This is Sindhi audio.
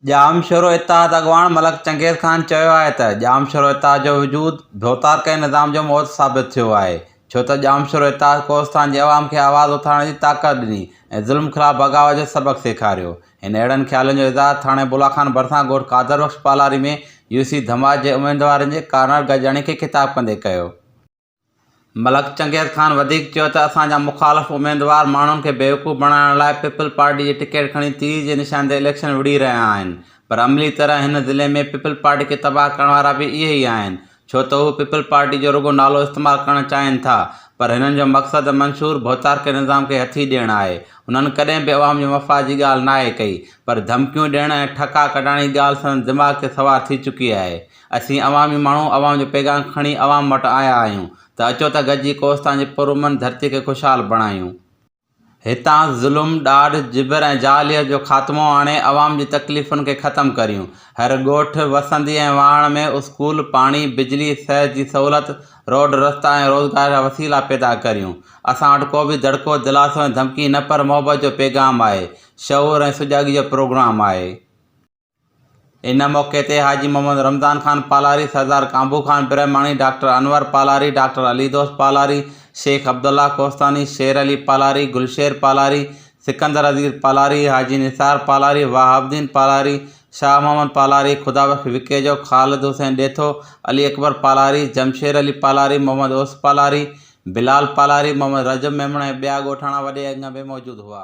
ڄامشورو اتحاد اڳواڻ ملڪ چنگيز خان چيو آهي ته ڄامشورو اتحاد جو وجود ڀوتارڪي نظام جو موت ثابت ٿيو آهي ڇو ته ڄامشورو اتحاد ڪوهستان جي عوام کي آواز اٿارڻ جي طاقت ڏني ۽ ظلم خلاف بغاوت جو سبق سيکاريو هن اهڙن خيالن جو اظهار ٿاڻي بولاخان ڀرسان ڳوٺ قادر بخش پالاري ۾ يوسي ڌماس جي اميدوارن جي ڪارنر گڏجاڻي کي خطاب ڪندي ڪيو ملڪ چنگيز خان وڌيڪ چيو ته اسان جا مخالف اميدوار ماڻهن کي بيوقوف بڻائڻ لاء پيپلز پارٽي جي ٽڪيٽ کڻي تير جي نشان تي اليڪشن وڙهي رهيا آهن پر عملي طرح هن ضلعي ۾ پيپلز پارٽي کي تباهه ڪرڻ وارا به اهي ئي آهن ڇو ته هو پيپلز پارٽي جو رڳو نالو استعمال ڪرڻ چاهين ٿا پر هنن جو مقصد منشور ڀوتارڪي نظام کي هٿي ڏيڻ آهي هنن ڪڏهن به عوام جي مفاد جي ڳالهه ناهي ڪئي پر ڌمڪيون ڏيڻ ۽ ٺڪا ڪڍڻ جي ڳالهه سندن دماغ تي سوار ٿي چڪي آهي اسين عوامي ماڻهو عوام جو پيغام کڻي عوام وٽ آيا آهيون ته اچو ته گڏجي ڪوهستان جي پرامن ڌرتي کي خوشحال بڻايون. هتان ظلم، ڏاڍ، جبر ۽ جاهليت جو خاتمو آڻي عوام جي تڪليفن کي ختم ڪريون. هر ڳوٺ، وسندي ۽ واهڻ ۾ اسڪول، پاڻي، بجلي، صحت جي سهولت، روڊ رستا ۽ روزگار جا وسيلا پيدا ڪريون. اسان وٽ ڪو به دڙڪو، دلاسو ۽ ڌمڪي نه پر محبت جو پيغام آهي. شعور ۽ سجاڳي جو پروگرام آهي. ان موقعي تي حاجي محمد رمضان خان پالاري، سردار ڪانڀو خان برهماڻي، ڊاڪٽر انور پالاري، ڊاڪٽر علي دوست پالاري، شيخ عبدالله ڪوهستاني، شير علي پالاري، گلشير پالاري، سڪندر عزيز پالاري، حاجي نثار پالاري، وهاب الدين پالاري، شاهه محمد پالاري، خدا بخش وڪيجو، خالد حسين ڏيٿو، علي اڪبر پالاري، جمشير علي پالاري، محمد اوس پالاري، بلال پالاري، محمد رجب ميمڻ ۽ ٻيا ڳوٺاڻا وڏي انگ ۾ موجود هئا.